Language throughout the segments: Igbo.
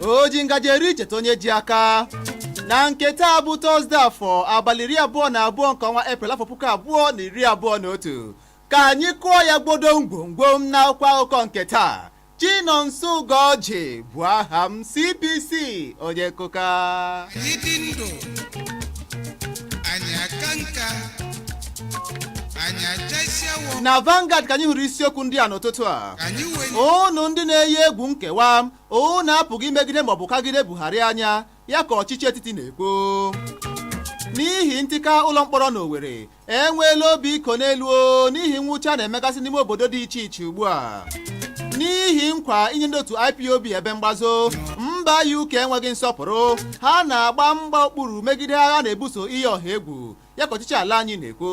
o ji ngaji eri cheta onye ji aka na nke taa bụ tọzde afọ abalị iri abụọ na abụọ nke ọnwa eprel afọ puku abụọ na iri abụọ na otu ka anyị kụọ ya gbodo ngwongwom na akwụkwọ akụkọ nke taa Chinonso Ugorji bụ aha m CPC onye nkụka Anyị dị ndụ, anyị aka nka. na Vanguard ka anyị hụrụ isiokwu ndị a n'ụtụtụ a unu ndị na-eyi egwu nkewa unu apụghị imegide maọbụ kagide Buhari anya ya ka ọchịchị etiti na-ekwu n'ihi ntika ụlọ mkpọrọ na Owerri enweela obi ịkọ n'elu o, n'ihi nwụcha na-emegasị n'ime obodo dị iche iche ugbu a n'ihi nkwa inye ndị otu IPOB ebe mgbazo mba UK enweghị nsọpụrụ ha na-agba mgba okpuru megide agha na-ebuso iyi ọha egwu ya ka ọchịchị ala anyị na-ekwu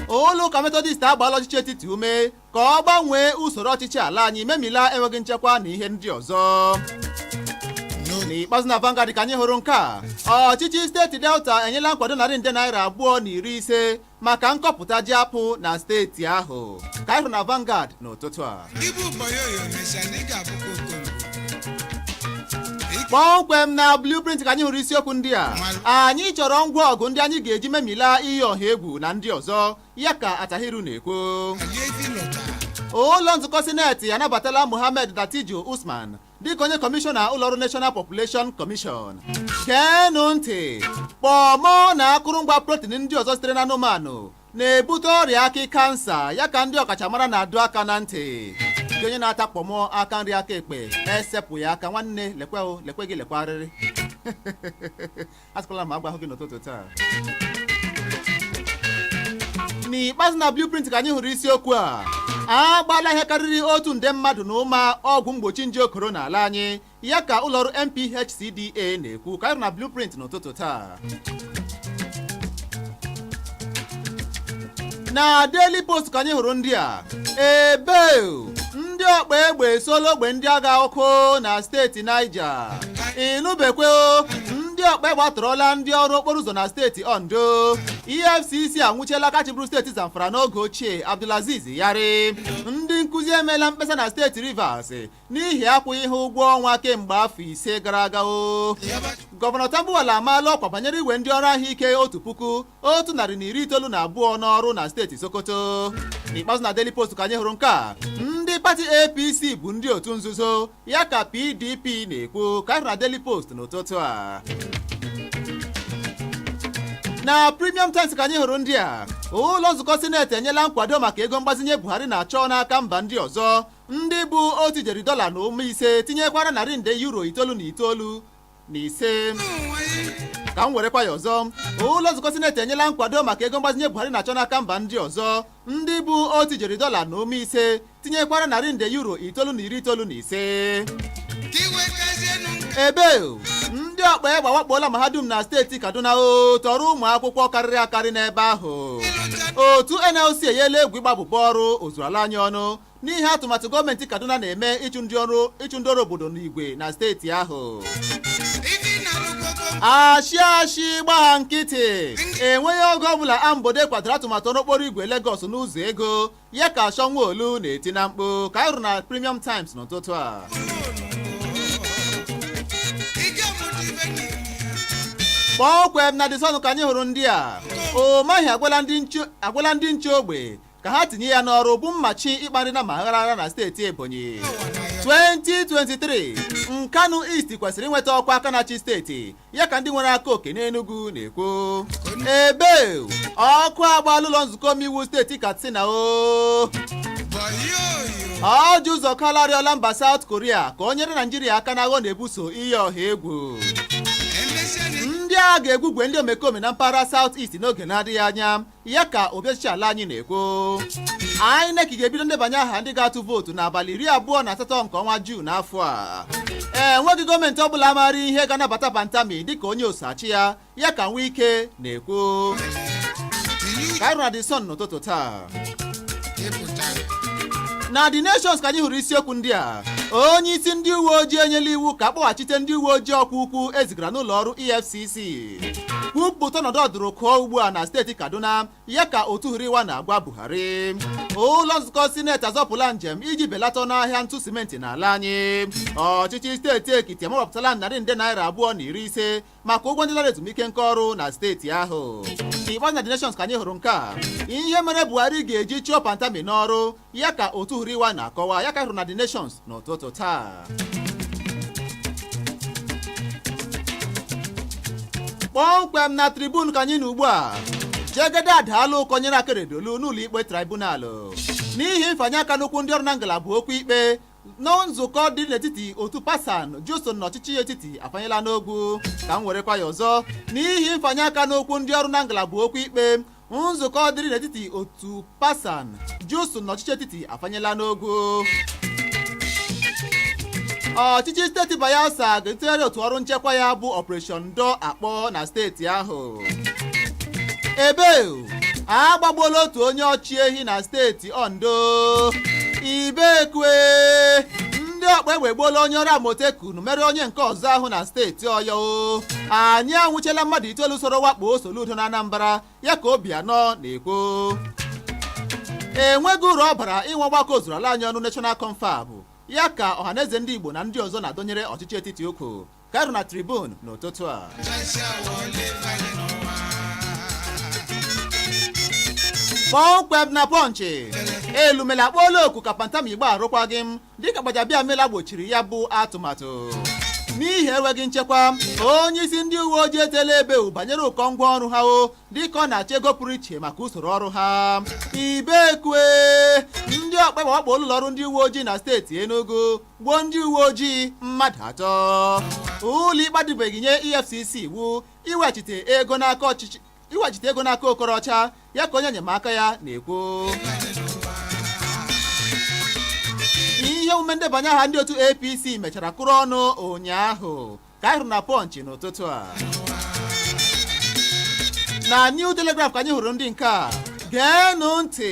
ụlọ ụka metọdist agbaala ọchịchị etiti ume ka ọ gbanwee usoro ọchịchị ala anyị memila enweghị nchekwa na ihe ndị ọzọ n'ikpeazụ na Vanguard ka anyị hụrụ nke a ọchịchị steeti Delta enyela nkwado narị nde naira abụọ na iri ise maka nkọpụta ji apụ na steeti ahụ ka anyị hụrụ na Vanguard n'ụtụtụ a kpọmkwem na blueprint ka anyị hụrụ isiokwu ndị a anyị chọrọ ngwa ọgụ ndị anyị ga-eji memila iyi ọha egwu na ndị ọzọ ya ka Attahiru na-ekwu ụlọ nzukọ sineti anabatala Mohammed Dattijo Usman dịka onye kọmishọna ụlọọrụ National Population Commission geenụ ntị kpọmọ na akụrụngwa protin ndị ọzọ sitere na anụmanụ na-ebute ọrịa akị kansa ya ka ndị ọkachamara na-adọ aka na ntị gị onye na-ata kpọmọ aka nri aka ekpe esepụ ya aka nwanne lekwe lekwe gị lekwa arịrị asịkwala m agwahụ gị n'ụtụtụ taa n'ikpeazụ na blueprint ka anyị hụrụ isiokwu a a gbaala ihe karịrị otu nde mmadụ na ụma ọgwụ mgbochi nje koro n'ala anyị ya ka ụlọọrụ NPHCDA na-ekwu ka anyị hụrụ na blueprint n'ụtụtụ taa na Daily Post ka anyị hụrụ ndị a ebe ndị ọkpa egbe esola ogbe ndị agha ọkụ na steeti Niger ịnụbekwe ndị ọkpa egbe atọrọla ndị ọrụ okporo ụzọ na steeti Ondo EFCC anwụchiela aka chịbụrụ steeti Zamfara n'oge ochie Abdulaziz Yari ndị nkụzi emeela mkpesa na steeti Rivers n'ihi akwụghị ha ụgwọ ọnwa kemgbe afọ ise gara aga o gọvanọ Tambuwal amaala ọkwa banyere iwe ndị ọrụ ahụike otu puku otu narị na iri itoolu na abụọ n'ọrụ na steeti Sokoto n'ikpeazụ na Daily Post ka anyị hụrụ nke a ndị pati APC bụ ndị otu nzuzo ya ka PDP na-ekwu ka anyị hụrụ na Daily Post n'ụtụtụ a na premium times ka anyị hụrụ ndị a ụlọ nzukọ sineti enyela nkwado maka ego mgbazinye Buhari na-achọ n'aka mba ndị ọzọ ndị bụ otu ijeri dọla na ụma ise tinyekwara narị nde euro itoolu na iri itoolu na ise ka m werekwa ya ọzọ ụlọ nzukọ sineti enyela nkwado maka ego mgbazinye buhari na-achọ n'aka mba ndị ọzọ ndị bụ otu ijeri dọla na ụma ise tinyekwara narị nde euro itoolu na iri itoolu na ise ebe ndị ọkpa egbe awakpoola mahadum na steeti kaduna o tọrọ ụmụ akwụkwọ karịrị akarị n'ebe ahụ otu nlc enyela egwu ịgba abụbọ ọrụ ozuru ala anyị ọnụ n'ihi atụmatụ gọọmenti Kaduna na-eme ịchụ ndị ọrụ obodo n'igwe na steeti ahụ ashị ashị gbagha nkịtị enweghị oge ọbụla ambode kwadoro atụmatụ ọrụ okporo igwe Lagos n'ụzọ ego ya ka Sanwo Olu na-eti na mkpu ka anyị hụrụ na Premium Times n'ụtụtụ a kpọmkwem na The Sun ka anyị hụrụ ndị a Umahi agwala ndị nche ogbe ka ha tinye ya n'ọrụ bụ mmachi ịkpa nri nnama aghara aghara na steeti Ebonyi 2023 Nkanu East kwesịrị inweta ọkwa aka na-achị steeti ya ka ndị nwere aka oke n'Enugu na-ekwu ebe ọkụ agbaala ụlọ nzukọ omeiwu steeti Katsina o Orji Uzor Kalu arịọla mba South Korea ka o nyere Naijiria aka n'agha ọ na-ebuso iyi ọha egwu ndị a ga-egwugwe ndị omekome na mpaghara South East n'oge na-adịghị anya ya ka obi ọchịchị ala anyị na-ekwu INEC ga-ebido ndebanye aha ndị ga-atụ vootu n'abalị iri abụọ na asatọ nke ọnwa Juun n'afọ a enweghị gọọmenti ọbụla maara ihe ga-anabata Pantami dịka onye oso achị ya ya ka Wike na-ekwu ka anyị hụrụ na The Sun n'ụtụtụ taa na The Nations ka anyị hụrụ isiokwu ndị a onye isi ndị uwe ojii enyela iwu ka a kpọghachite ndị uwe ojii ọkwa ukwu e zigara n'ụlọ ọrụ EFCC kwupụta ọnọdụ ọdụrụkụọ ugbu a na steeti Kaduna ya ka otu HURIWA na-agwa Buhari ụlọ nzukọ sineti azọpụla njem iji belata ọnụ ahịa ntụ simenti n'ala anyị ọchịchị steeti Ekiti amawapụtala narị nde naira abụọ na iri ise maka ụgwọ ndị lara ezumike nka ọrụ na steeti ahụ ikpeazụ na The Nations ka anyị hụrụ nke a ihe mere Buhari ga-eji chụọ Pantami n'ọrụ ya ka otu huriwa na-akọwa ya ka anyị hụrụ na The Nations n'ụtụtụ taa kpọmkwem na tribune ka anyị nọ ugbu a jegede adaala ụkọ nyere akeredolu n'ụlọ ikpe tribunalụ n'ihi mfanye aka n'okwu ndị ọrụ na ngalaba okwu ikpe na nzukọ dị n'etiti otu pasan jusun na ọchịchị etiti afanyela n'ogwu ka m werekwa ya ọzọ n'ihi mfanye aka n'okwu ndị ọrụ na ngalaba okwu ikpe nzukọ dịrị n'etiti otu PASAN JUSUN na ọchịchị etiti afanyela n'ogwu ọchịchị steeti Bayelsa ga-etegharị otu ọrụ nchekwa ya bụ Operation Doo Akpo na steeti ahụ ebe agbagbuola otu onye ọchị ehi na steeti Ondo ibekwe ndị ọkpa egbe egbuola onye ọrụ Amoteku n mere onye nke ọzọ ahụ na steeti Ọyọ anyị anwụchiela mmadụ itoolu soro wakpo Soludo na Anambra ya ka Obianọ na-ekwu enweghị uru ọ bara inwe ọgbakọ ozuru ala anyị ọnụ National Confab ya ka Ọhaneze ndị Igbo na ndị ọzọ na-adọnyere ọchịchị etiti ukwu ka anyị hụrụ na Tribune n'ụtụtụ a kpọmkwem na Punch Elumelu akpọọla oku ka Pantami gbaa arụkwaghị m dịka Gbajabiamila gbochiri ya bụ atụmatụ n'ihi enweghị nchekwa onye isi ndị uwe ojii etela ebeu banyere ụkọ ngwa ọrụ ha o dịka ọ na-achọ ego pụrụ iche maka usoro ọrụ ha ibekwe ndị ọkpa egbe awakpoola ụlọọrụ ndị uwe ojii na steeti Enugu gbuo ndị uwe ojii mmadụ atọ ụlọ ikpe adịbeghị nye EFCC iwu iwechite ego n'aka ọchịchị iwechite ego n'aka Okorocha ya ka onye enyemaka ya na-ekwu ihe omume ndebanye aha ndị otu APC mechara kụrụ ọnụ ụnyaahụ ka anyị hụrụ na Punch n'ụtụtụ a na New Telegraph ka anyị hụrụ ndị nke a geenụ ntị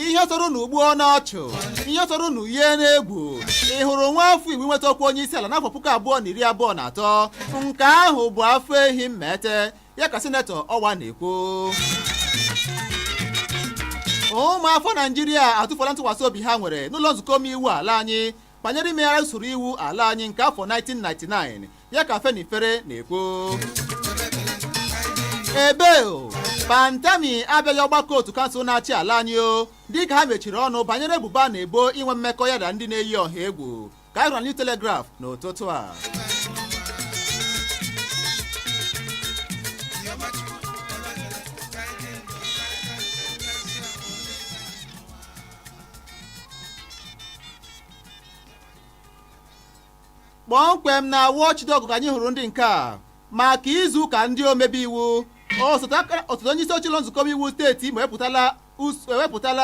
ihe tọrọ unu gbuo n'ọchụ ihe tọrọ unu yie n'egwu ị hụrụ nwa afọ Igbo nweta ọkwa onye isi ala n'afọ puku abụọ na iri abụọ na atọ nke ahụ bụ afọ ehi mmete ya ka Sinetọ Ọwa na-ekwu ụmụafọ Naịjirịa atụfuola ntụkwasị obi ha nwere n'ụlọ nzukọ omeiwu ala anyị banyere imegharị usoro iwu ala anyị nke afọ 1999 ya ka Afenifere na-ekwu ebe o Pantami abịaghị ọgbakọ otu kansụl na-achị ala anyị o dịka ha mechiri ọnụ banyere ebubo a na-ebo inwe mmekọ ya na ndị na-eyi ọha egwu ka anyị hụrụ na New Telegraph n'ụtụtụ a kpọmkwem na Watchdog ka anyị hụrụ ndị nke a maka izu ụka ndị omebe iwu osote onye isi oche ụlọ nzukọ omeiwu steeti Imo ewepụtala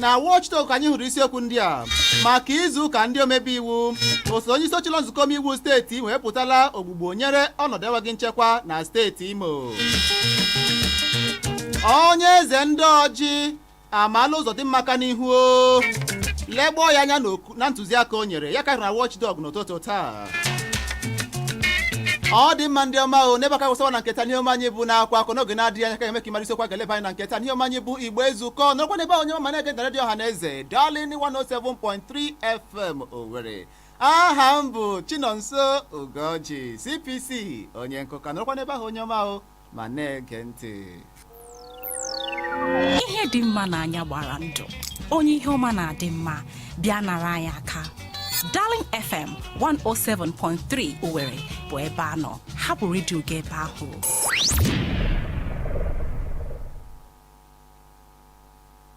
na Watchdog ka anyị hụrụ isiokwu ndị a maka izu ụka ndị omebe iwu osote onye isi oche ụlọ nzukọ omeiwu steeti Imo ewepụtala ogbugbo nyere ọnọdụ enweghị nchekwa na steeti Imo onye eze ndị Ọjị amaala ụzọdịmma aka n'ihu o legboo ya anya n'oku- na ntụziaka o nyere ya karịra watchdog n'ụtụtụ taa ọ dị mma ndị ọma o n'ebe a ka a kwụsịwa na nke taa n'ihe omume anyị bụ na akwa akọ n'oge na-adịghị anya ka a ga-eme ka ị mara isiokwu a ga-eleba anya na nke taa n'ihe omume anyị bụ igbo ezukọ nọrọkwa n'ebe ahụ onye ọma na-ege na redio ọha na eze darling 107.3 fm owerri aha m bụ chinonso ugorji cpc onye nkụka nọrọkwa n'ebe ahụ onye ọma o ma na-ege ntị ihe dị mma n'anya gbara ndụ onye ihe ọma na-adị mma bịa nara anyị aka Darling FM 107.3 Owerri bụ ebe a nọ hapụ redio gị ebe ahụ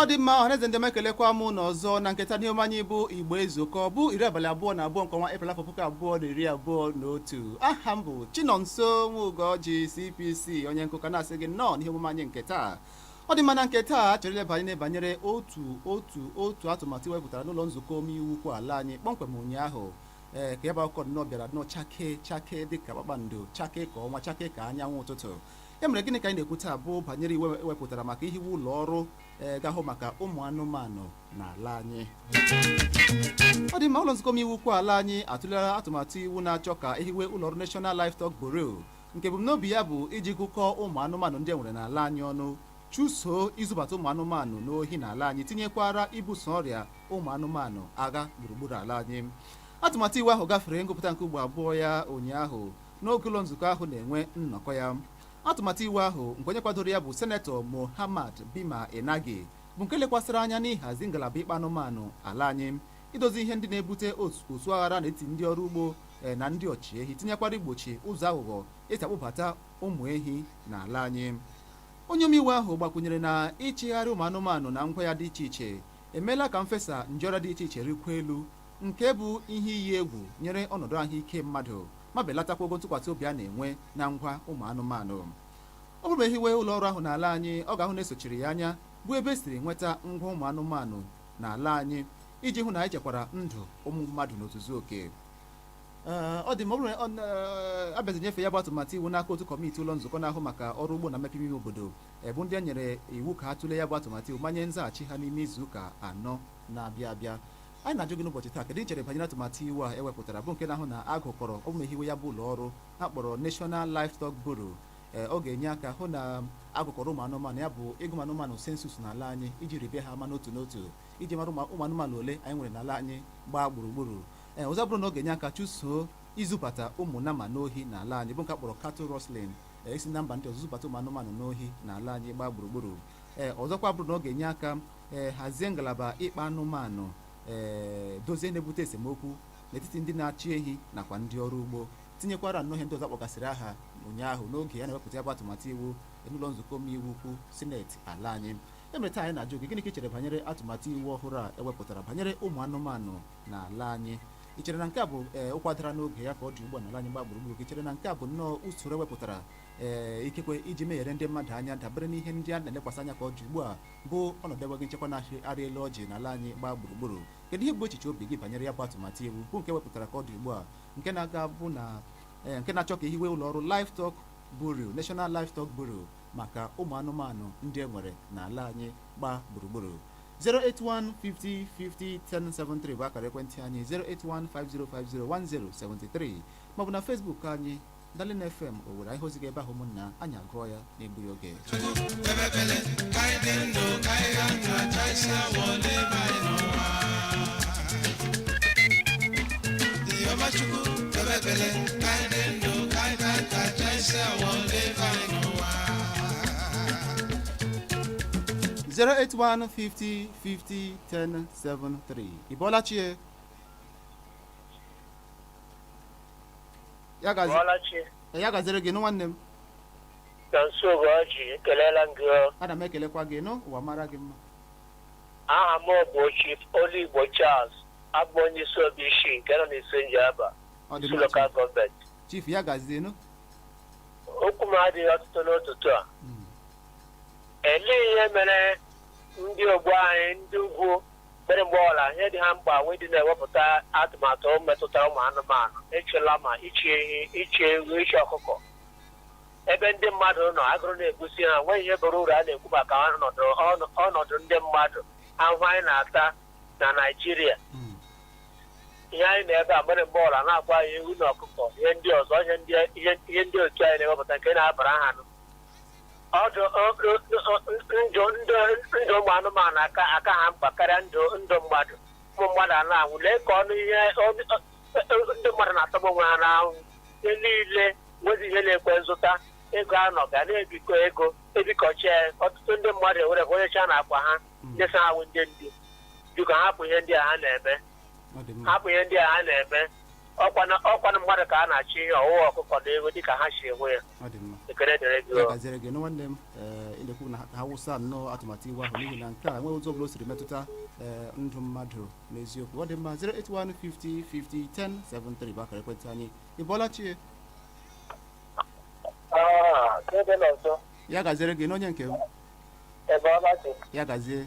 ọ dị mma ọhaneze ndị m ekelekwa m unu ọzọ na nke taa n'ihe omume anyị bụ igbo ezukọ bụ iri abalị abụọ na abụọ nke ọnwa eprel afọ puku abụọ na iri abụọ na otu aha m bụ chinonso nwa ugorji cpc onye nkụka na-asị gị nnọọ n'ihe omume anyị nke taa ọ dị mma na nke taa a chọrọ ileba anya banyere otu otu otu atụmatụ e wepụtara n'ụlọ nzukọ omeiwu ukwu ala anyị kpọmkwem ụnyaahụ ee ka ebe akụkọ nnọọ bịara nnọọ chake chake dịka kpakpando chake ka ọnwa chake ka anyanwụ ụtụtụ ya mere gịnị ka anyị na-ekwu taa bụ banyere iwu e wepụtara maka ihiwe ụlọ ọrụ ee ga-ahụ maka ụmụ anụmanụ n'ala anyị ọ dị mma ụlọ nzukọ omeiwu ukwu ala anyị atụlera atụmatụ iwu na-achọ ka e hiwe ụlọ ọrụ National Livestock Bureau nke ebumnobi ya bụ iji gụkọọ ụmụ anụmanụ ndị e nwere n'ala anyị ọnụ chụsoo izubata ụmụ anụmanụ n'ohi n'ala anyị tinyekwara ibuso ọrịa ụmụ anụmanụ agha gburugburu ala anyị atụmatụ iwu ahụ gafere ngụpụta nke ugbo abụọ ya ụnyaahụ n'oge ụlọ nzukọ ahụ na-enwe nnọkọ ya atụmatụ iwu ahụ nke onye kwadoro ya bụ senetọ Mohammad Bima Enagi bụ nke lekwasịrị anya n'ịhazi ngalaba ịkpa anụmanụ ala anyị idozi ihe ndị na-ebute ọsụ aghara n'etiti ndị ọrụ ugbo e, na ndị ọchịehi tinyekwara igbochi ụzọ aghụghọ e si akpụbata ụmụ ehi n'ala anyị onye omeiwu ahụ gbakwunyere na ịchịgharị ụmụ anụmanụ na ngwa ya dị iche iche emeela ka mfesa nje ọrịa dị iche iche rịkwuo elu nke bụ ihe iyi egwu nyere ọnọdụ ahụike mmadụ ma belatakwa ogo ntụkwasị obi a na-enwe na ngwa ụmụ anụmanụ ọ bụrụ na e hiwe ụlọ ọrụ ahụ n'ala anyị ọ ga-ahụ na e sochiri ya anya bụ ebe e siri nweta ngwa ụmụ anụmanụ n'ala anyị iji hụ na anyị chekwara ndụ ụmụ mmadụ n'ozuzu oke ọ dị mma ọ bụrụ na a bịazi nyefe ya bụ atụmatụ iwu n'aka otu kọmiti ụlọ nzukọ na-ahụ maka ọrụ ugbo na mmepe ime obodo bụ ndị e nyere iwu ka ha tụlee ya bụ atụmatụ iwu ma nye nzaghachi ha n'ime izu ụka anọ na-abịa abịa Anyị na-ajụ gị n'ụbọchị taa kedu i chere banyere atụmatụ iwu a ewepụtara bụ nke na-ahụ na a gụkọrọ ụmụ hiwe ya bụ ụlọ ọrụ a kpọrọ National Livestock Bureau ee ọ ga-enye aka hụ na a gụkọrọ ụmụ anụmanụ ya bụ ịgụ anụmanụ census n'ala anyị iji ribe ha ama n'otu n'otu iji mara ụmụ anụmanụ ole anyị nwere n'ala anyị gbaa gburugburu ee ọzọ bụrụ na ọ ga-enye aka chụsoo izubata ụmụ nama n'ohi n'ala anyị bụ nke a kpọrọ cattle rustling isi na mba ndị ọzọ zubata ụmụ anụmanụ n'ohi n'ala anyị gbaa gburugburu ee ọzọkwa bụrụ na ọ ga-enye aka ee hazie ngalaba ịkpa anụmanụ ee dozie na-ebute esemokwu n'etiti ndị na-achị ehi nakwa ndị ọrụ ugbo tinyekwara nnọọ ihe ndị ọzọ ọ kpọgasịrị aha ụnyaahụ n'oge ya na-ewepụta ya bụ atụmatụ iwu n'ụlọ nzukọ omeiwu ukwu sineti ala anyị ya mere taa anyị na-ajụ gị gịnị ka i chere banyere atụmatụ iwu ọhụrụ a ewepụtara banyere ụmụ anụmanụ n'ala anyị i chere na nke a bụ ee ụkwa dara n'oge ya ka ọ dị ugbu a n'ala anyị gbaa gburugburu i chere na nke a bụ nnọọ usoro ewepụtara ee ikekwe iji megharịa ndị mmadụ anya dabere n'ihe ndị a na-elekwasị anya ka ọ dị ugbu a bụ ọnọdụ enweghị nchekwa na-arị elu ọjị n'ala anyị gbaa gburugburu kedu ihe bụ echiche obi gị banyere ya bụ atụmatụ iwu bụ nke e wepụtara ka ọ dị ugbu a nke na-aga bụ na ee, nke na-achọ ka e hiwe ụlọ ọrụ livestock bureau national livestock bureau maka ụmụ anụmanụ ndị e nwere n'ala anyị gbaa gburugburu 08150501073 bụ akara ekwentị anyị 08150501073 maọbụ na Facebook anyị Darling FM Owerri anyị hụ ozi gị ebe ahụ ụmụnna anyị agụọ ya n'egbughị oge zero eight one fifty fifty ten seven three ị bọọla chi e ya gazie ị bọọla chi ya gaziri gị nụ nwanne m Nonso Ugorji ekelela m gị o. ana m ekelekwa gị nụ ụwa mara gị mma aha m bụ Chief Oluigbo Charles abụ m onye Isuobishi nke nọ n'Isu Njaba Isu lokal gọọmenti ọ dị mma chief. chief ya gazie nụ okwu m adịghị ọtụtụ n'ụtụtụ a Mm. elee ihe mere ndị ogbo anyị ndị ugwu Mere mgbe ọla ihe dị ha mkpa wee dị na-ewepụta atụmatụ metụtara ụmụ anụmanụ, ịchị lama, ịchị ehi, ịchị ewu, ịchị ọkụkọ. Ebe ndị mmadụ nọ, agụrụ na-egbusi ha, nweghị ihe bara uru a na-ekwu maka ọnọdụ ọnụ- ọnọdụ ndị mmadụ, ahụhụ anyị na-ata na Naịjirịa. Mm. ihe anyị na-ebe mere mgbe ọla na-akwa ya ewu na ọkụkọ ihe ndị ọzọ ihe ndị ihe ihe ndị otu anyị na-ewepụta nke na-abara ha nụ ọdụ ndụ ndụ ndụ ụmụ anụmanụ aka aka ha mkpa karịa ndụ ndụ mmadụ ụmụ mmadụ a na-anwụ lee ka ọnụ ihe ọnụ- ọ- ọ- ndị mmadụ na-atọgbu onwe ha na-anwụ ihe niile nwezi ihe na-ekwe nzụta ego anọ ga na-ebikọ ego ebikọcha ya. ọtụtụ ndị mmadụ ewere onyecha na akwa ha ndị sị ha wụ ndị ndu biko hapụ ihe ndị a ha na-eme ọ dị mma hapụ ihe ndị a ha na-eme ọ kwanụ ọ kwanụ mmadụ ka a na-achị ihe ọwụwa ọkụkọ na ewu dịka ha si ewe ya ọ dị mma ekele dịrị gị ya gaziere gị nụ nwanne m ee ị na-ekwu na ha wụsa nnọọ atụmatụ iwu ahụ n'ihi na nke a enweghị ụzọ ọbụla o siri metụta ee, ndụ mmadụ n'eziokwu ọ dị mma 08150501073 bụ akara ekwentị anyị ị bọọla chi e Ah, Chinonso ya gaziere gị nụ onye nke m ị bọọla chi ya gazie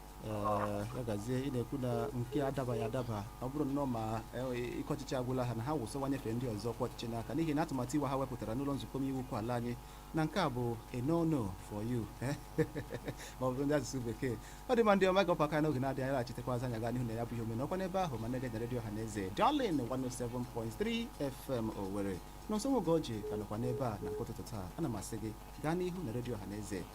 Ee, ya gazie ị na-ekwu na nke adabaghị adaba ọ bụrụ nnọọ ma e- ike ọchịchị agwụla ha na ha wụsa ọwa nyefee ndị ọzọ ọkwa ọchịchị n'aka n'ihi na atụmatụ iwu ha wepụtara n'ụlọ nzukọ omeiwu ukwu ala anyị na nke a bụ a no no for you ma ọ bụ ndị asụsụ bekee ọ dị mma ndị ọma gọpụ aka n'oge na-adịghị anya anyị laghachitekwa azụ anyị agaa n'ihu na ya bụ ihe omume nọkwa n'ebe ahụ ma na-ege na redio ọha na eze Darling 107.3 FM Owerri Nonso Nwogoji ka nọkwa n'ebe a na nke ụtụtụ taa ana m asị gị gaa n'ihu na redio ọha na eze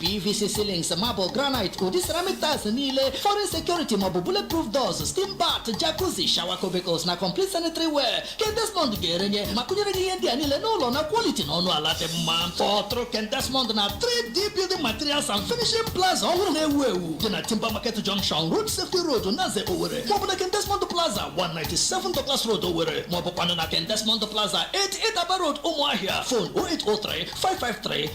pvc ceilings marble granite ụdị ceramic tiles niile foreign security maọbụ bulletproof doors steam bath jacuzzi shower cubicles na complete sanitary ware ken desmond ga-erenye ma kụnyere gị ihe ndị a niile n'ụlọ na quality na ọnụ ala dị mma kpọtụrụ ken desmond na 3d building materials and finishing plaza ọhụrụ na-ewu ewu dị na timber market junction road safety road naze owere maọbụ na ken desmond plaza 197 douglas road owere maọbụkwanụ na ken desmond plaza 88 aba road ụmụahịa phone 0803 553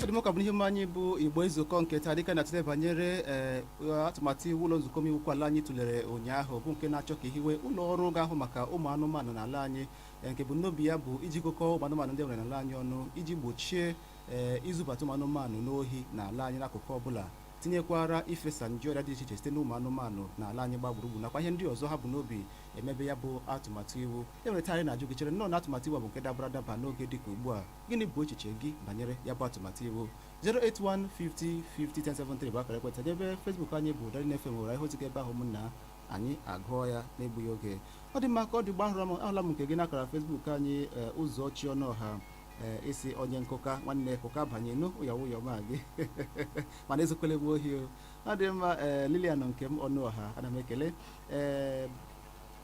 ọ dị mma ọ ka bụ n'ihe omume anyị bụ igbo ezukọọ nke taa dịka a na-atụle banyere ee, atụmatụ iwu ụlọ nzukọ omeiwu ukwu ala anyị tụlere ụnyaahụ bụ nke na-achọ ka e hiwe ụlọ ọrụ ga-ahụ maka ụmụ anụmanụ n'ala anyị ee, nke ebumnobi ya bụ iji gụkọọ ụmụ anụmanụ ndị e nwere n'ala anyị ọnụ iji gbochie ee, izubata ụmụ anụmanụ n'ohi n'ala anyị n'akụkụ ọbụla tinyekwara ifesa nje ọrịa dị iche iche site n'ụmụ anụmanụ n'ala anyị gbaa gburugburu nakwa ihe ndị ọzọ ha bu n'obi emebe ya bụ atụmatụ iwu e nwere taa anyị na-ajụ gị i chere nnọọ na atụmatụ iwu a bụ nke dabara adaba n'oge dịka ugbu a gịnị bụ echiche gị banyere ya bụ atụmatụ iwu 08150501073 bụ akara ekwentị n'ebe Facebook anyị bụ Darling FM nwere ihe ozi gị ebe ahụ ụmụnna anyị agụọ ya n'egbughị oge ọ dị mma ka ọ dị ugbu a ahụrụ m ahụla m nke gị n'akara Facebook anyị ee, Ụzọchi Ọnụọha ee, ị sị onye nkụka nwanne kụka banye nụ ụya ụyọ ma gị mana ezokwele bụ ohi o ọ dị mma ee, Lilian Nkem Ọnụọha ana m ekele ee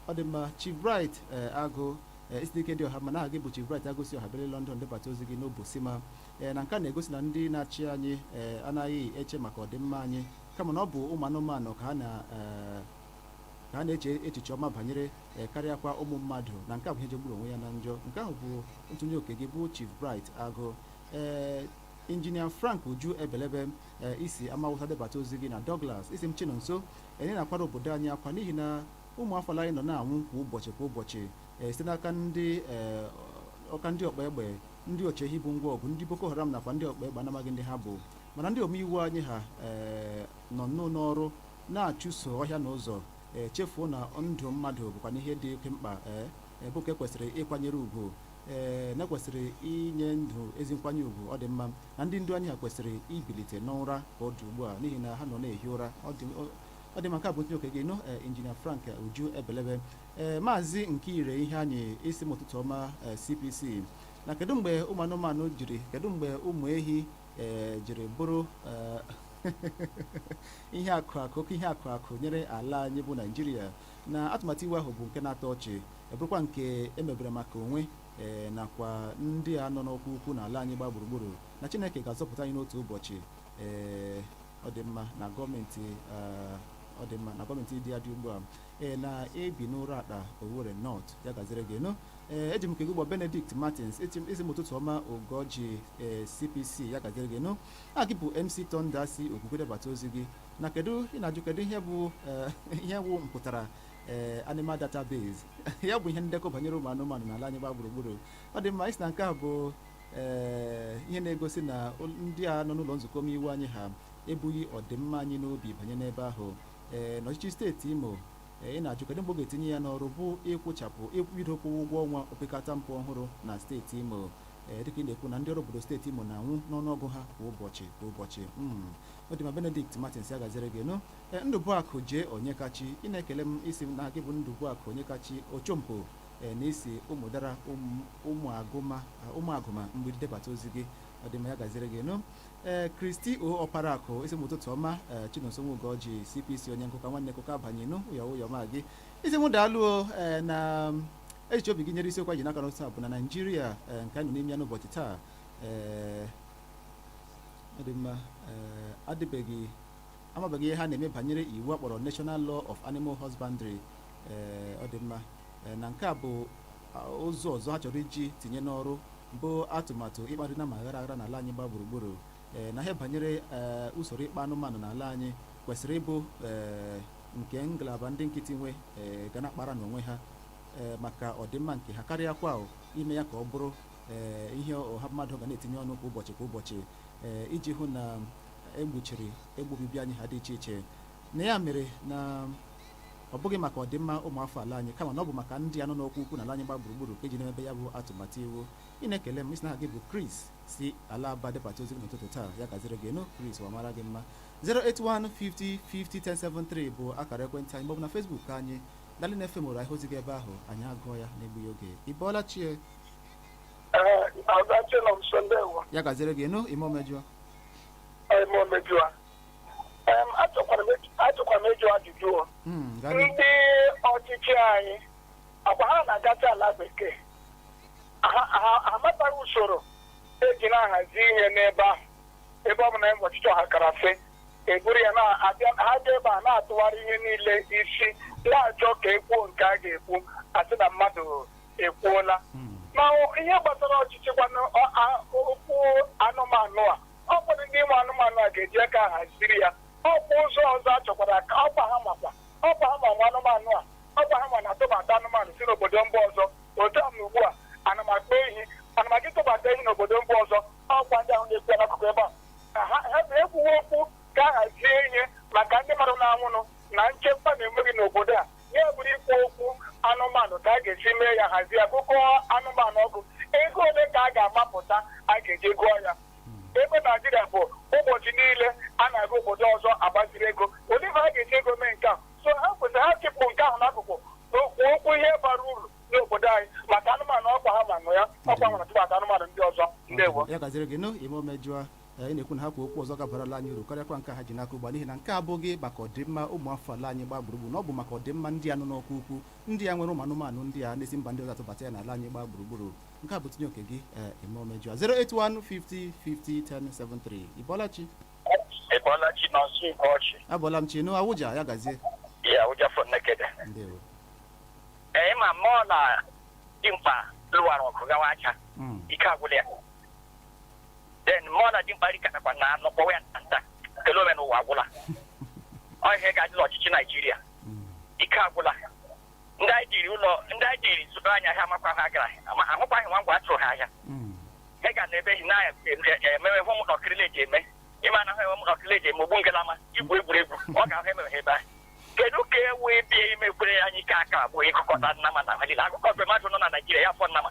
ọ dị mma chief bright ee agụ ee ị sị n'ike dị ọha mma na aha gị bụ chief bright agụ si ọha obere london debata ozi gị n'obosima ee na nke a na-egosi na ndị na-achị anyị ee anaghị eche maka ọdịmma anyị kama na ọ bụ ụmụ anụmanụ ka ha na ee ka a na-eche echiche ọma banyere ee karịakwa ụmụ mmadụ na nke a bụ ihe jọgburu onwe ya na njọ nke ahụ bụ ntụnye oke gị bụ chief bright agụ ee injinia frank uju ebelebe ee i si amawụsa debata ozi gị na Douglas ị sị m Chinonso ee ị na-akwara obodo anyị akwa n'ihi na ụmụ afọ ala anyị nọ na-anwụ kwa ụbọchị kwa ụbọchị ee site n'aka ndị ee ọka ndị ọkpa egbe ndị ọche ehi bu ngwa ọgụ ndị Boko Haram nakwa ndị ọkpa egbe a na-amaghị ndị ha bụ mana ndị omeiwu anyị ha ee nọ nnọọ n'ọrụ na-achụso ọhịa na ụzọ ee chefuo na ndụ mmadụ bụkwanụ ihe dị oke mkpa ee bụ nke e kwesịrị ịkwanyere ugwu ee na e kwesịrị inye ndụ ezi nkwanye ugwu ọ dị mma na ndị ndu anyị ha kwesịrị ibilite n'ụra ka ọ dị ugbu a n'ihi na ha nọ na-ehi ụra ọ dị ọ- ọ dị mma nke a bụ ntụnye oke gị nụ ee, injinia frank uju ebelebe ee maazị nkire iheanyị ị sị m ụtụtụ ọma ee, cpc na kedu mgbe ụmụ anụmanụ jiri kedu mgbe ụmụ ehi ee, jiri bụrụ ee, ihe akụ akụ oke ihe akụ akụ nyere ala anyị bụ naijiria na atụmatụ iwu ahụ bụ nke na-atọ ọchị ọ bụrụkwa nke e mebere maka onwe ee nakwa ndị a nọ n'ọkwa ukwu n'ala anyị gba gburugburu na chineke ga-azọpụta anyị n'otu ụbọchị ee ọ dị mma na gọọmenti ah, ọ dị mma na gọọmenti dị adị ugbu a ee na ebi n'uratta owerri north ya gaziri gị nụ ee eji m nke gị gbọ benedict martins ị sị m ị sị m ụtụtụ ọma ugorji ee cpc ya gaziri gị nụ aha gị bụ mc thunder si okigwe debata ozi gị na kedu ị na-ajụ kedu ihe bụ ee, ihe bụ mpụtara ee animal database ya bụ ihe ndekọ banyere ụmụ anụmanụ n'ala anyị gba gburugburu ọ dị mma ị sị na nke a bụ ee ihe na-egosi na ụl- ndị a nọ n'ụlọ nzukọ omeiwu anyị ha ebughị ọdịmma anyị n'obi banye n'ebe ahụ ee n'ọchịchị steeti imo ee, ị na-ajụ kedụ mgbe ọ ga-etinye ya n'ọrụ bụ ịkwụchapụ ịkwụbido kwụwa ụgwọ ọnwa opekata mpe ọhụrụ na steeti imo ee dịka ị na-ekwu na ndị ọrụ obodo steeti imo na-anwụ n'ọnụọgụ ha kwa ụbọchị kwa ụbọchị Mm. ọ dị mma benedict martins ya gaziri gị nụ E, Ndụbụakụ J. Onyekachi, ị na-ekele m ị sị m na gị bụ Ndụbụakụ Onyekachi Ochompo e, na i si ụmụdara ụmụ- ụmụagụma a, ụmụagụma mgbidi debata ozi gị ọ dị mma ya gaziri gị nụ ee kristi o ọparakụ ị sị m ụtụtụ ọma ee chinonso ugorji cpc onye nkụka nwanne nkụka banye nụ ụyọ ụyọ ma gị ị sị m daalụ o ee na echiche obi gị nyere isiokwu anyị ji n'aka n'ụtụtụ a bụ na naijiria ee, nke anyị nọ n'ime ya n'ụbọchị taa ee ọ dị mma ee adịbeghị amabeghị ihe ha na-eme banyere iwu a kpọrọ National Law of Animal Husbandry ee ọ dị mma Ee, na nke a bụ a, ụzọ ọzọ ha chọrọ iji tinye n'ọrụ bụ atụmatụ ịkparị nama aghara aghara n'ala anyị gba gburugburu ee na ihe banyere ee usoro ịkpa anụmanụ n'ala anyị kwesịrị ịbụ ee nke ngalaba ndị nkịtị nwe ee ga na-akpara n'onwe ha ee maka ọdịmma nke ha karịakwa o, ime ya ka ọ bụrụ ee ihe ọha mmadụ ga na-etinye ọnụ kwa ụbọchị kwa ụbọchị ee iji hụ na egbuchiri ebe obibi anyị ha dị iche iche na ya mere na ọ bụghị maka ọdịmma ụmụafọ ala anyị kama na ọ bụ maka ndị a nọ n'ọkwa ukwu na ala anyị gba gburugburu ka eji na-emebe ya bụ atụmatụ iwu ị na-ekele m ị sị na aha gị bụ Chris si ala Aba debata ozi gị n'ụtụtụ taa ya gaziri gị nụ Chris ya mara gị mma 08150501073 bụ akara ekwentị anyị maọbụ na Facebook anyị Darling FM Owerri hara ozi gị ebe ahụ anyị agụọ ya n'egbughị oge ị bọọla chi Ee, Ada Chinonso ndewo. ya gaziri gị nụ ime omejọ achọkwara m ịjụ ajụjụ o. Mm, gaa n'ihu. ndị ọchịchị anyị ọkwa ha na-agacha ala bekee Ha- ha ha amataghị usoro eji na-ahazi ihe n'ebe ahụ ebe ọ bụ na enwe ọchịchị ọha kara fe eburu ya na-abịa ha bịa ebe a na-atụgharị ihe niile isi n'ala achọ ka ekwuo nke a ga-ekwu asị na mmadụ ekwuola ma ọ- ihe gbasara ọchịchị kwanụ ọ- a- okwu anụmanụ a ọkwa ndị nwe anụmanụ a ga-eji aka haziri ya ọkwa ụzọ ọzọ a chọkwara ka ọkwa ha makwa ọkwa ha ma nwe anụmanụ a ọkwa ha ma na-atụbata anụmanụ si n'obodo mba ọzọ otu a na ugbu a ana m akpa ehi ana m aga ịtụbata ehi n'obodo mba ọzọ ọkwa ndị ahụ na-ekwu ya n'akụkụ ebe a ka ha ha bụ ekwuwe okwu ka a hazie ihe maka ndị mmadụ na-anwụnụ na nchekwa na-enweghị n'obodo a ya bụrụ ikwu okwu anụmanụ ka a ga-esi mee ya hazie ya gụkọ anụmanụ ọgụ ego ole ka a ga-amapụta a ga-eji gụọ ya ebe naijiria bụ ụbọchị niile a na-aga obodo ọzọ agbaziri ego olee ebe a ga-eji ego mee nke a so ha kwesịrị ha chịpụ nke ahụ n'akụkụ na-ekwu okwu ihe bara uru n'obodo anyị maka anụmanụ ọkwa ha ma nwe ya ọkwa nwere tụbata anụmanụ ndị ọzọ ndewo ya gaziri gị nụ ime omejụọ ị na-ekwu na ha kwuo okwu ọzọ ga-abara ala anyị uru karịakwa nke ha ji n'aka ugbu a n'ihi na nke a abụghị maka ọdịmma ụmụ afọ ala anyị gbaa gburugburu na ọ bụ maka ọdịmma ndị a nọ n'ọkwa ukwu ndị a nwere ụmụ anụmanụ ndị a na-esi mba ndị ọzọ atụbata ya n'ala anyị gbaa gburugburu nke a bụ tinye oke gị ee eme omejọ 08150501073 ịbọlachi ịbọlachi Chinonso Ugorji abọla m chi nụ Awụja ya gazie Awụja from Nekede ndewo ee ma mmụọ na dimkpa lụwara ọgụ gawa aja Mm. ike agwụla ya then mụ na dimkpa rikọtakwa na anụ kpọwa ya nta nta kele ome n'ụwa agwụla ọ ihe ga-adị n'ọchịchị naijiria ike agwụla ndị anyị jiri ụlọ ndị anyị jiri zụrụ anyị ahịa amakwa ha gara ma ahụkwaghị nwa ngwa atụrụ ha ahịa ị ga na ebe na emewe hụ ụmụ nọkịrịla eji eme ịma na ha enwe ụmụ nọkịrịla eji eme ogbu ngalama igwu egwuregwu ọ ga-ahụ emewe ha ebe ahụ kedu ka e wee bịa imekwere anyị ike aka abụọ ịgụkọta nnama na malile agụkọ mgbe mmadụ nọ na naijiria ya fọ nnama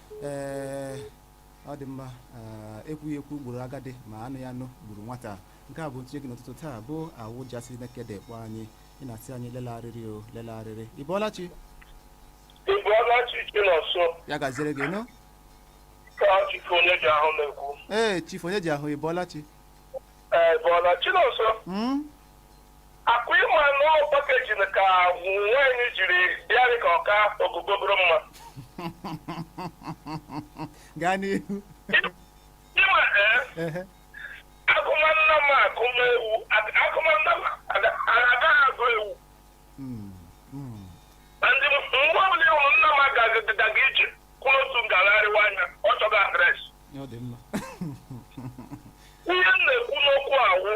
ee ọ dị mma ee, ekwughị ekwu gburu agadi ma anụghị anụ gburu nwata nke a bụ ntinye gị n'ụtụtụ taa bụ awụja si nekede kpọ anyị ị na-asị anyị lele arịrị o lele arịrị ị bọọla chi ị bọọla chi Chinonso ya gaziere gị nụ chifu onye ji ahụ na-ekwu. ee chifu onye ji ahụ ị bọọla chi Ee, ị bọọla Chinonso, Mm? Akwa ịma na ọ pakejin ka nwaanyị jiri bịarị ka ọ ka ogogogoro mma. gaa n'ihu Ịma ee, Ehe. agụma nnama agụma ewu, ag- agụma nnama aga- agaghị agụ ewu. Mm, mm. Na ndị m- mgbe ọbụla ị hụrụ nnama gaga ije kwụrụ otu nga gharịwa anya, ọ chọga adreesị. ọ dị mma Ihe m na-ekwu n'okwu awụ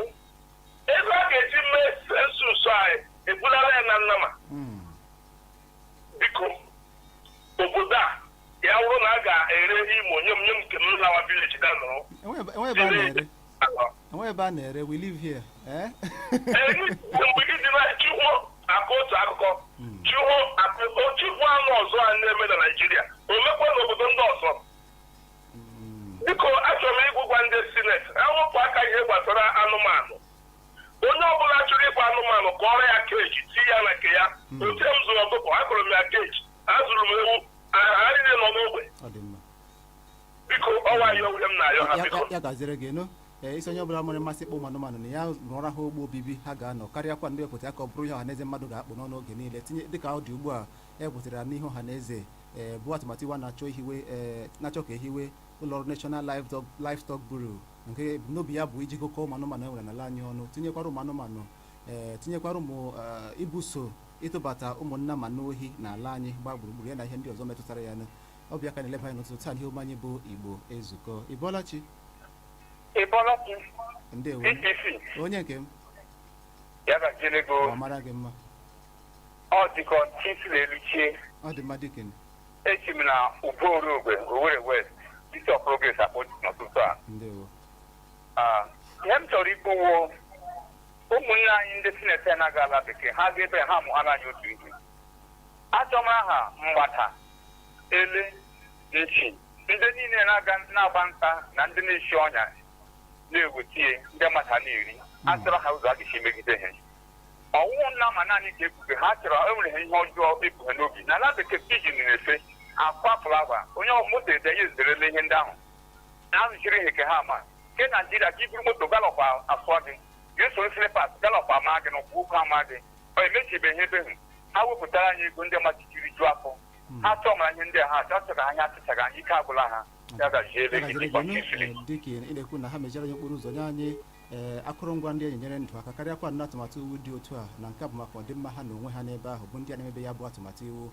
Ego a ga-eji mee sensus anyị ebulala ya na nnama biko obodo a ya wụrụ na a ga-ere imo nye m nye m nke m lawa vileji ga nọrọ Enwe- enwe ebe a na-ere enwe ebe a na-ere we live here eh? Ee, mgbe gị dị na chi ho akọọ otu akụkọ chi ho akọ chi ho anụ ọzọ a na-eme na naijiria o mekwa n'obodo ndị ọzọ biko achọrọ m ịgwụgwa ndị sineti ewepụ aka ihe gbasara anụmanụ onye ọbụla chọrọ ịkpa anụmanụ ka ọ rụọ ya keji ti ya na nke ya hmm. otu m zụrụ ọkụkọ akụrụ m ya keji azụrụ m ewu ha niile nọ n'ogbe biko ọ wụ ya wụ ihe m na-ayọ ha biko ya gaziere gị nụ ee ị sị onye ọbụla nwere mmasị ịkpa ụmụ anụmanụ na ya rụọra ha ogbe obibi ha ga-anọ karịakwanụ iwepụta ya ka ọ bụrụ ihe ọha na eze mmadụ ga-akpụ n'ọnụ oge niile tinye dịka ọ dị ugbu a ewepụtara n'ihu ọha na eze ee bụ atụmatụ iwu a na-achọ ihiwe ee na-achọ ka ehiwe ụlọọrụ National Livestock Livestock Bureau nke ebumnobi ya bụ iji gụkọ ụmụ anụmanụ e nwere n'ala anyị ọnụ tinyekwara ụmụ anụmanụ ee tinyekwara ụmụ ee, ibuso ịtụbata ụmụ nnama n'ohi n'ala anyị gbaa gburugburu ya na ihe ndị ọzọ metụtara ya nụ ọ bụ ya ka a na-eleba anya n'ụtụtụ taa n'ihe omume anyị bụ Igbo Ezukọ ị bọọla chi ị bọọla chi ndewo BBC onye nke m ya gaziere gị ọ mara gị mma ọ dịka ọchịchị isi n'elu chie ọ dị mma dịka nụ. echi m na ugbo Orogwe Owerri West isi ọ Progress akpọ n'ụtụtụ a ndewo Ah, ihe m chọrọ ikwu wụ o ụmụnne anyị ndị sineti na-aga ala bekee ha ga ebe ha mụghara anyị otu ihe achọm aha mgbada ele nchi ndị niile na-agba nta na ndị na-eshi ọnya na-ewetie ndị mmadụ ha na-eri achọrọ ha ụzọ a ga-esi megide ha ọ wụ nnama naanị ka ebufe ha chọrọ enwere ha ihe ọjọọ ebufe n'obi na ala bekee pijin na-efe akwa flawa onye ọ moto ede ya ezerela ihe ndị ahụ na-azụchiri ihe ka ha ma nke naijiria ka i buru moto galọp afọ gị ga-esoro silipas galọp ama gị na ụkwụ ụkwụ ama gị ọ emechibeghị ebe hụ ha wepụtara anyị ego ndị mmadụ ji rijuo afọ ha chọọ mara ihe ndị a ha achọ achọghị anyị achịchaghị anyị ike agwụla ha ya gazie ebe gị dịkwa ka isiri dịka ị na-ekwu na ha mechara anyị okporo ụzọ nye anyị ee akụrụngwa ndị eji enyere ndụ aka karịakwa nnọọ atụmatụ iwu dị otu a na nke a bụ maka ọdịmma ha na onwe ha n'ebe ahụ bụ ndị a na-emebe ya bụ atụmatụ iwu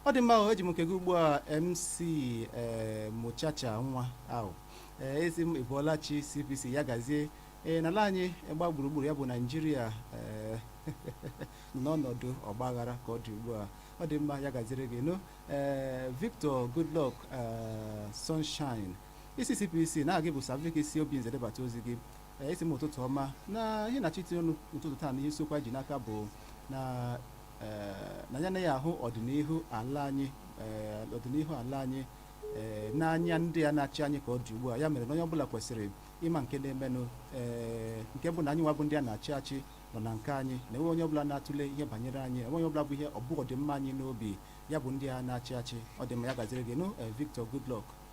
ọ dị mma ahụ eji m nke gị ugbu a mc ee mụchacha nwa ahụ ee isi m ị bọọla chi cpc ya gazie ee n'ala anyị gba gburugburu ya bụ naijiria ee n'ọnọdụ ọgbaghara ka ọ dị ugbu a ọ dị mma ya gaziri gị nụ ee victor goodluck ee sunshine isi cpc na-agwa gị bụ savik si Obinze debata ozi gị Ee, isi m ụtụtụ ọma na ihe na chiti ọnụ n'ụtụtụ taa na ihe isiokwu anyị ji n'aka bụ na ee, na ya na ya ahụ ọdịnihu ala anyị ee, ọdịnihu ala anyị ee, n'anya ndị a na-achị anyị ka ọ dị ugbu a ya mere na onye ọbụla kwesịrị ịma nke na-emenụ ee, nke bụ na anyị nwa bụ ndị a na-achị achị nọ na nke anyị na enweghị onye ọbụla na-atụle ihe banyere anyị enweghị onye ọbụla bụ ihe o bu ọdịmma anyị n'obi ya bụ ndị a na-achị achị ọ dị mma ya gaziri gị nụ ee, Victor Goodluck